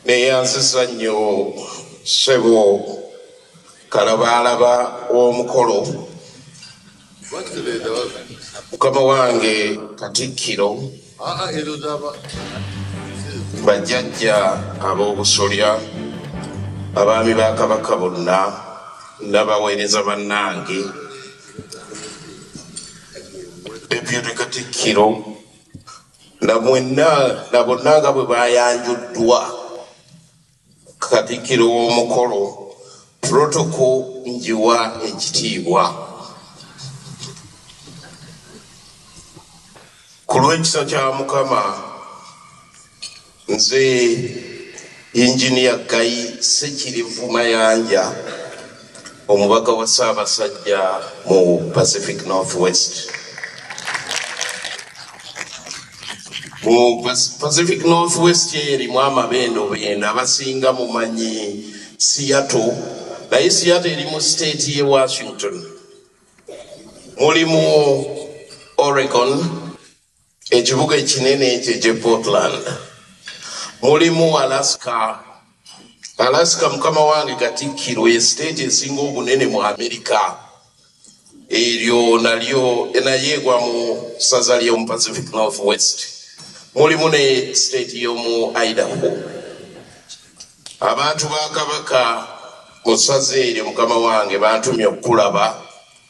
neyanziza nnyo ssebo kalabaalaba w'omukolo mukama wange katikkiro bajjajja ab'obusolya abaami ba kabaka bonna nabaweereza bannange deputy katikkiro na mwenna na bonna nga bwe bayanjuddwa katikiro w'omukolo protoko njiwa ekitiibwa ku lw'ekisa kya mukama Nze Engineer Gayi Ssekirivu Mayanja omubaka wa Ssaabasajja mu Pacific North West. Mu Pacific North West eyo erimu amabendo bendo abasinga mumanyi Seattle naye Seattle eri mu state ye Washington mulimu Oregon Ekibuga ekinene ekyo ekye Portland mulimu Alaska. Alaska mukama wange Katikkiro ye siteeti esinga obunene mu Amerika. Eryo nalyo naye egwa mu ssaza ly'omu Pacific North West. Mulimu ne siteeti y'omu Idaho. Abantu ba Kabaka mu ssaza eryo mukama wange bantumye okukulaba.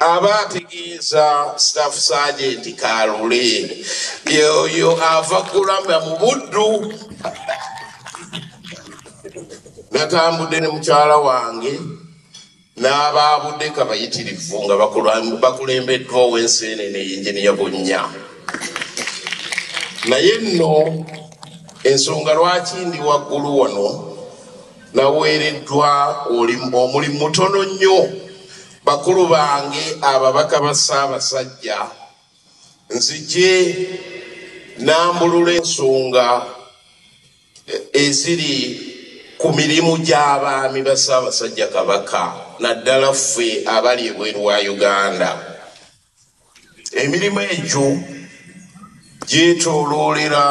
aba ategeeza staff sergeant kalule yoyo ava kulamba mu buddu natambudde ne mukyala wange n'abaabudde kabayitirivu nga bakulembeddwa ow'ensi ene ne yinginiya bunnya naye nno ensonga lwaki ndi waggulu wano naweereddwa omulimu mutono nnyo bakulu bange ababaka ba ssaabasajja nzije nambulula ensonga eziri ku mirimu gy'abaami ba ssaabasajja kabaka naddala ffe abali ebweru wa uganda emirimu egyo gyetooloolera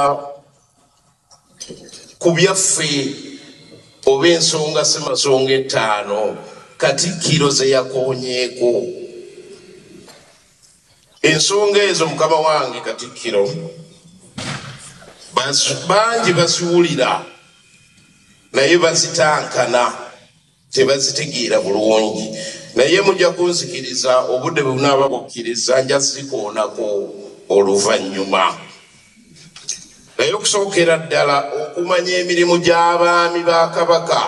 ku byaffe oba ensonga semasonga ettaano katikkiro zeyakonyeeko ensonga ezo mukama wange katikkiro bangi baziwulira naye bazitankana tebazitegeera bulungi naye mujja kunzikiriza obudde bwe bunaaba bukkiriza nja zikoonako oluvannyuma naye okusookera ddala okumanya emirimu gy'abaami ba kabaka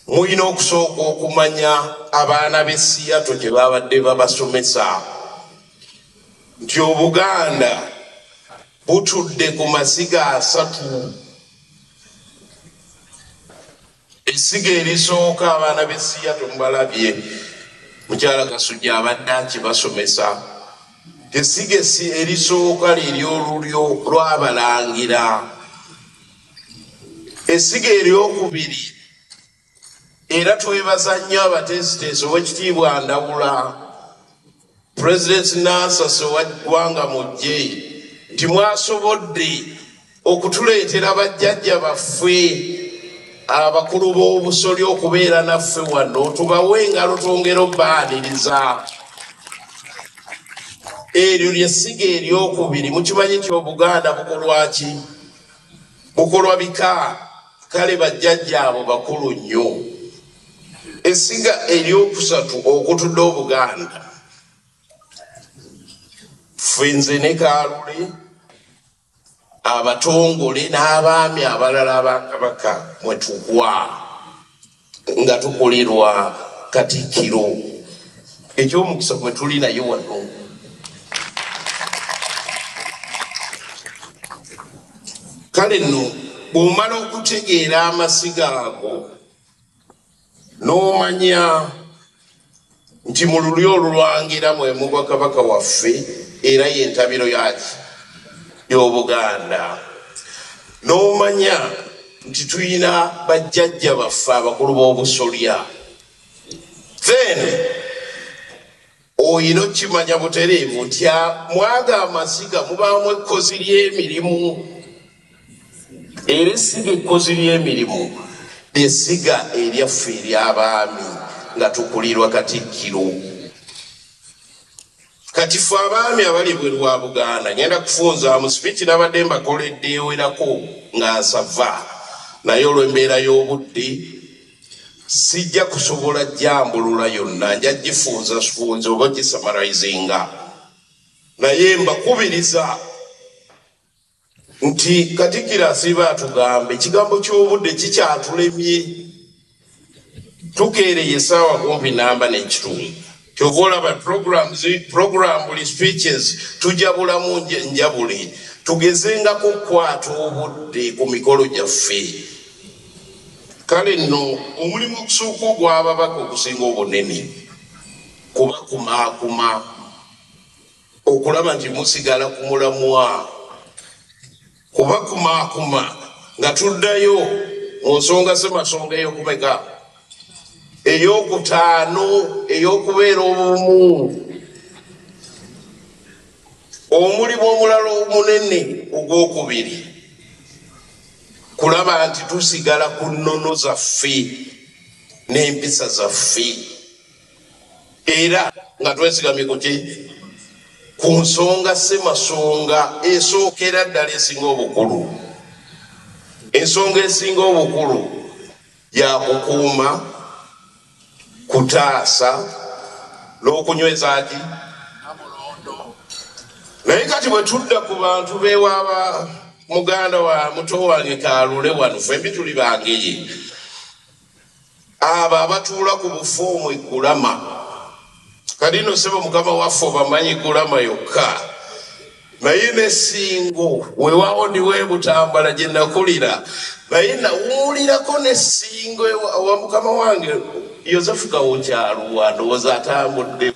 mulina okusooka okumanya abaana b'essiyato gye baabadde babasomesa nti obuganda butudde ku masiga asatu essiga erisooka abaana b'essiya temubalabye mukyala kasujja abadde akibasomesa essiga erisooka liryolulyo lwabalangira essiga eryokubiri era twebaza nnyo abateesiteesi owekitiibwa ndawula pulezidenti nansasi owa ggwanga mujje nti mwasobodde okutuleetera bajjajja baffe abakulu b'obusoli okubeera naffe wano tubawe engalo twongera obaaniriza eryo lyessiga eryokubiri mukimanyi nti obuganda bukolwaki bukolwa bika kale bajjajja abo bakulu nnyo esiga eryokusatu okutudde obuganda fenze ne kalule abatongole n'abaami abalala abakabaka mwetugwa nga tukulirwa katikkiro ekyomukisa gwe tuli naye wano kale nno bw'omala okutegeera amasiga ago n'omanya nti mu lulyo olulwangira mwe mugwa kabaka waffe era yentabiro yaki y'obuganda n'omanya nti tulina bajjajja baffe abakulu b'obusolya then oyina okukimanya butereevu nti mwaga amaziga mubaamu ekkozi ly'emirimu era essiga ekkozi ly'emirimu lyessiga eryaffe ery'abaami nga tukulirwa katikkiro kati fe abaami abali bwe lwa buganda ngenda kufunzaamu sipiiki nabadde mbakoledde ewerako nga nsava naye olw'embeera y'obudde sijja kusobola jambulula yonna nja gifunza sifunza oba gisamarizinga naye mbakubiriza nti katikiro asiiba atugamba ekigambo ky'obudde kikyatulemye tukeereye esaawa kumpi namba n'ekitundu kyova olaba programbuli speeches tujabulamu njabule tugezengako okukwata obudde ku mikolo gyaffe kale nno omulimu okusooka ogw'ababaka okusinga obunene kuba kumaakuma okulaba nti musigala ku mulamwa kubakumakuma nga tuddayo mu nsonga zemasonga eyokumeka eyokutaano eyokubeera obumu omulimu omulala omunene ogwokubiri kulaba nti tusigala ku nnono zaffe n'empisa zaffe era nga twesigamye kuki ku nsonga ssemasonga esookera ddala esinga obukulu ensonga esinga obukulu yakukuuma kutaasa n'okunyweza ki naye kati bwe tudda ku bantu bewaaba muganda wa muto wange kalule wano fwembi tuli bangeye abo abatuula ku bufoomu egulama kati no sebo mukama waffe obamanyi gulama yokka naye nesingo wewawo ndiwebutambala gyenakulira naye nawuulirako nesingo ewa mukama wange yosefu gawokyaluwa ndowooza atambuddemu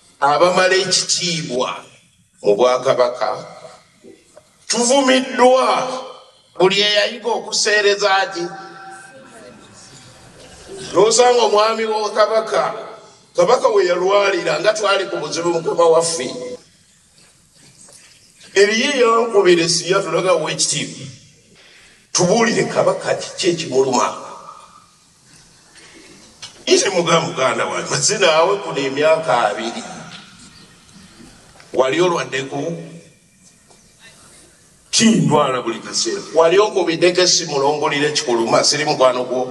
abamala ekitiibwa mu bwakabaka tuvumiddwa buli eyayiga okuseereza ki nosanga omwami wa kabaka kabaka we yalwalira nga twali ku buzibu mukama waffe eriyo eyankubira esiya tulaga wekitiibwa tubuulire kabaka kiki ekimuluma nze muga muganda wange maze naawe kuno emyaka abiri wali olwaddeko kindwala buli kaseera wali okubideko esimulongolire kikuluma siri mukwano gwo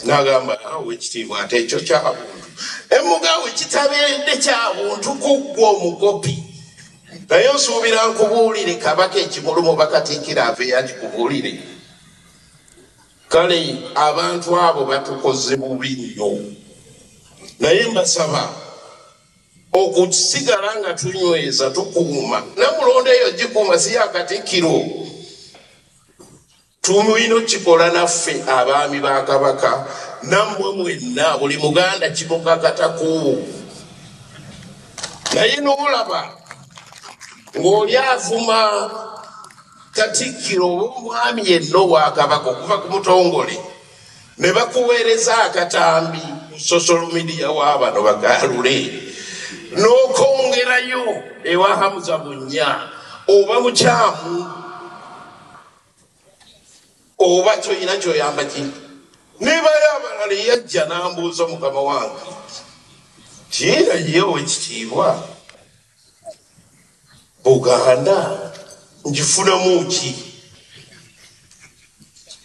nagamba awo ekitiibwa ate ekyo kyabuntu emugawe kitabeedde kyabuntu kuggwa omukopi naye osuubira nkubuulire kabaka ekimulumu bakatiikira ave yagikubuulire Kale abantu abo batukoze bubi nnyo, naye mbasaba okusigala nga tunyweza tukuuma namulondo eyo gikuuma si yakatikkiro tumulina okikola naffe abaami ba kabaka nammwe mwenna buli muganda kimukakatako naye noolaba ng'oli avuma katikkiro oba omwami yenna owakabaka okuva ku mutongole ne bakuweereza akatambi ku social media wabano bagalule n'okwongerayo ewa hamuza bunnya oba mukyamu oba kyoyina kyoyamba ki nebayo abalala eyajja n'ambuuza mukama wange kiina yewo ekitiibwa buganda ngifunamu ki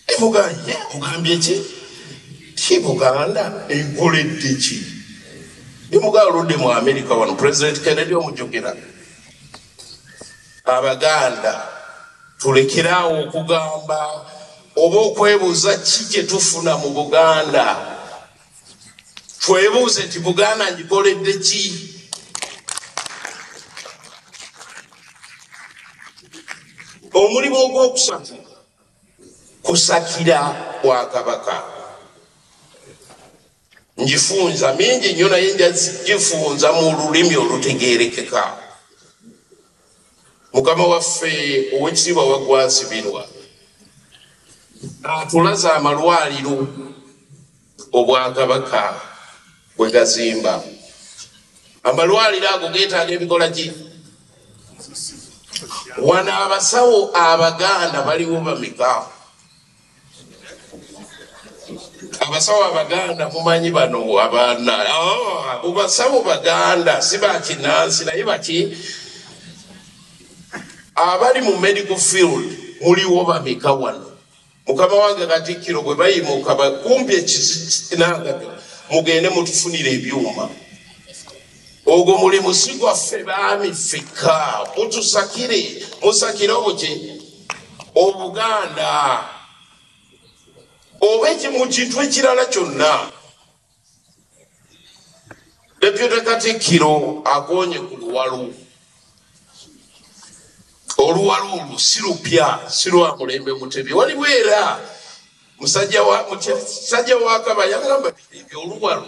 emugaye mugambye ki ki buganda enkoledde ki emugaa oludde mu amerika wano president kennedy omujogera abaganda tulekeraawo okugamba oba okwebuuza ki kyetufuna mu buganda twebuuze nti buganda ngikoledde ki omulimu ogwokusatu kusakira bwakabaka ngifunza mingi nyo naye njagifunza mu lulimi olutegerekeka mukama waffe owekitiibwa wagwazibirwa atulaza amalwaliro obwakabaka bwe gazimba amalwaliro ago getaaga ebikola ki wano abasawo abaganda baliwo bamika abasawo abaganda mumanyi bano abaana ah, basawo baganda si bakinansi naye baki abali mu medical field muliwo bameka wano mukama wange katikkiro bwe bayimuka bakumbi ekizinangaga mugende mutufunire ebyuma ogwo mulimu si gwaffe baami ffekka mutusakire musakire obuki obuganda oba ekimu kintu ekirala kyonna depute katikkiro agonye ku luwalu oluwalu olwo si lupya si lwa mulembe mutebi waliwo era musajja wa kabaya gamba ebyo oluwalu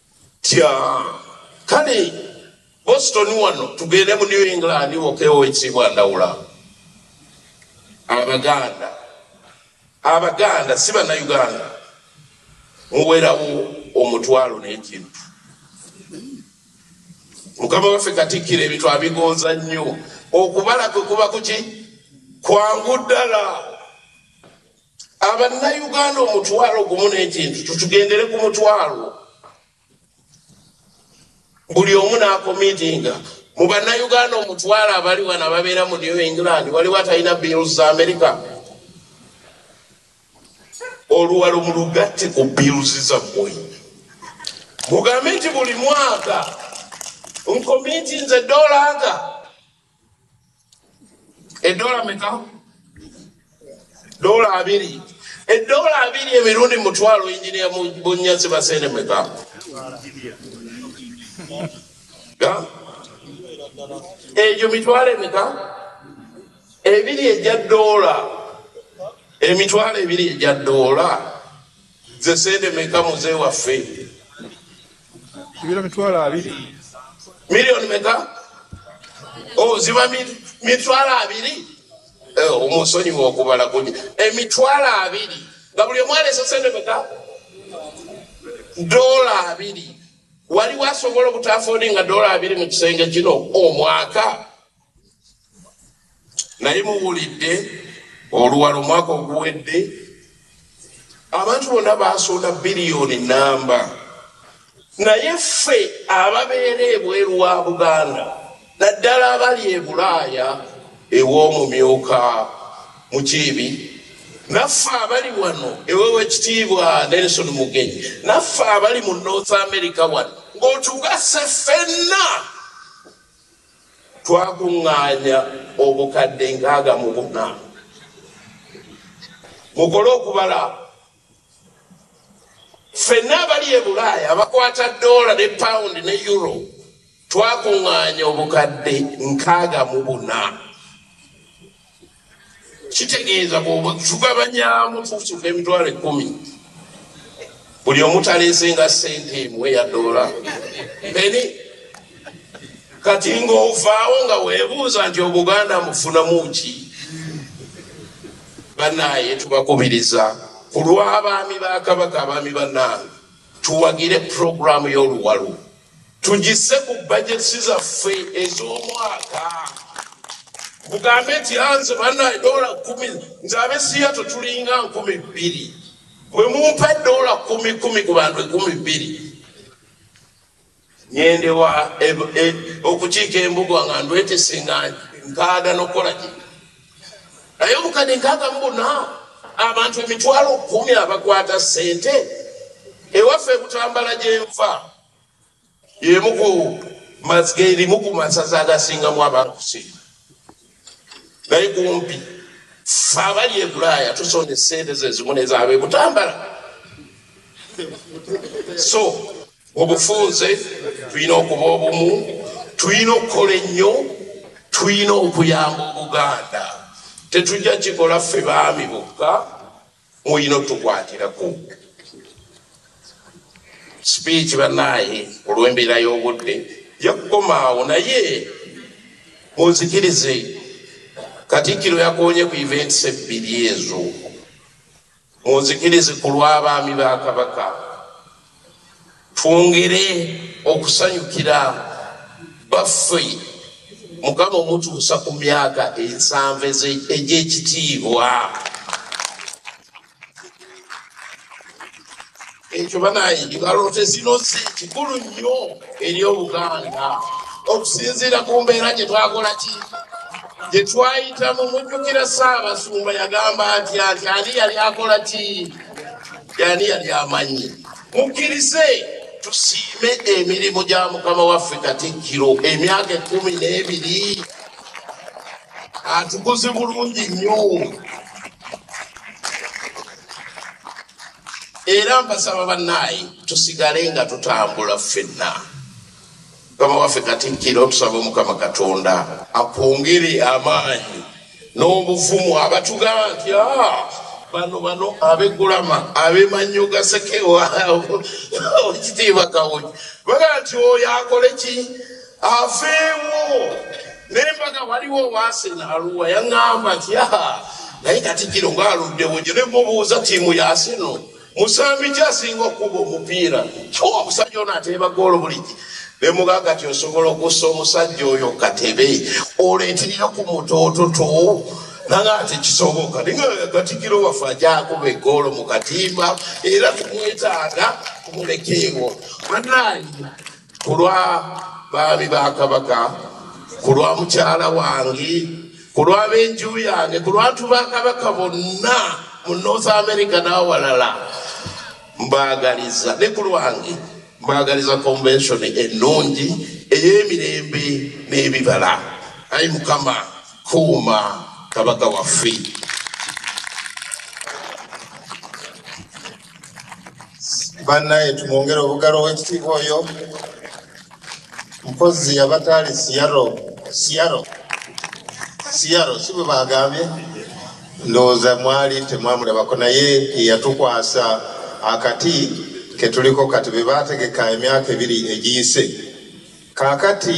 tya kale boston wano tugende mu new england wokewo ekiibwa ndawula abaganda abaganda si banauganda muwerawo omutwalo n'ekintu mukama waffe katikkira ebintu abigonza nnyo okubala kwe kuba kuki kwangu ddala Abannayuganda omutwalo gumu n'ekintu tutugendere ku mutwalo buli omu n'akomiitinga mu bannayuganda omutwalo abali wano ababeera mu new england waliwo atalina bills za amerika oluwalo mu lugatte ku bills zammwe mugambe nti buli mwaka nkomiitinze dolaga edola meka dola abiri edola abiri emirundi mutwalo injinia bunyazi basene meka egyo mitwalo emeka ebiri egya dola emitwalo ebiri egya dola zesende meka muze waffe Ibira mitwalo abiri. Milioni meka? Oh, ziba mitwalo abiri. Eh, omusonyi wokubala kunyi. Emitwalo eh, abiri. Nga buli omwana esosende meka? Dola abiri. Wali wasobola obutafodi nga dola abiri mu kisenge kino omwaka. Oh, naye muwulidde oluwala omwaka oguwedde abantu bonna basoona biliyoni namba naye ffe ababeera ebweru wa buganda naddala abali e bulaaya ew'omumyuka mukiibi naffe abali wano ewewe kitiibwa nelson mugenyi naffe abali mu north america wano ng'otugase ffenna twakuŋŋaanya obukadde nkaaga mu buna mukole okubala ffenna abali e bulaaya abakwata doola ne pawundi ne euro twakuŋŋaanya obukadde nkaaga mu buna kitegeeza bwetugabanyaamu tusuka emitwalo ekumi buli omutaleesenga sente emu eya doola eni kati ngaovaawo nga webuuza nti obuganda mufunamu ki banaye tubakubiriza ku lw'abaami ba kabaka abaami banaange tuwagire puroguramu y'oluwalo tugisse ku budgets zaffe ez'omwaka mugambe nti anze ah, banaye dola kumi nze abesiya tutulinga nkumi bbiri bwe mumpa dola kumi kumi ku bantu ekumi bbiri nyendewa e, e, okukiika embuga nga ndwetese nga nkaaga nokukola gino naye mukade nkaaga mubuna abantu emitwalo kumi abakwata sente ewaffe ebutambala gyenva yemuku erimu ku masaza agasingamu abankusi naye kumpi fe abali ebulaaya tusonda esente zezimu nezaaba ebutambala so obufunze tulina okuba obumu tulina okukola ennyo tulina okuyamba obuganda tetujja kikola ffe baami bokka mulina otukwatirako sipiiki banaye olw'embeera y'obudde yakukomaawo naye munzikirize katikkiro yakonye ku events ebbiri ezo Munzikirize ku lw'abaami ba Kabaka twongere okusanyukira baffe mukama omutuusa ku myaka ensanvu egy'ekitiibwa. ekyo banange baloote zino zi kikulu nnyo eri obuganda okusinziira ku mbeera gye twakola ki gye twayitamu mujjukira saabasumba yagamba nti anti ani yali akola ki yani yali amanyi mukkirize tusiime emirimu gya mukama waffe katikkiro emyaka ekumi n'ebiri atukuze bulungi nnyo era mpasaba bannaayi tusigale nga tutambula ffenna mukama waffe katikkiro tusaba omukama katonda akwongere amaanyi n'obuvumu abatugamba nti ah, bano bano abegulama abemanyo gasekewa kitiibwa kawuji baga nti oyo akole ki aveewo nembaga waliwo wasena aluwa yaŋamba nti yaha naye kati kino ngaaluddewo gyo ne mubuuza tiimu yaseno musambi kyasinga okukuba omupiira kyowa omusajja ono ateeba goolo buliki nemugaga ti osobola okussa omusajja oyo katebe oleetirira ku mutoototo nanga ati kisoboka ninga katikiro waffe ajakuba egoolo mu katimba era tumwetaaga kumulekeewo banaye kulwa baami ba kabaka kulwa mukyala wange kulwa benju yange kulwantu ba kabaka bonna mu north america n'awalala mbagaliza ne ku lwange mbagaliza convention ennungi ey'emirembe n'ebibala ayi mukama kuuma kabaka waffe bannaye tumwongere obugalo w'ekitiibwa oyo mpozi yabataali siyaro siyaro siyaro si bwe baagambye ndowooza mwali temwamulabako naye eyatukwasa akati ketuliko kati be baategeka emyaka ebiri egiyise kaakati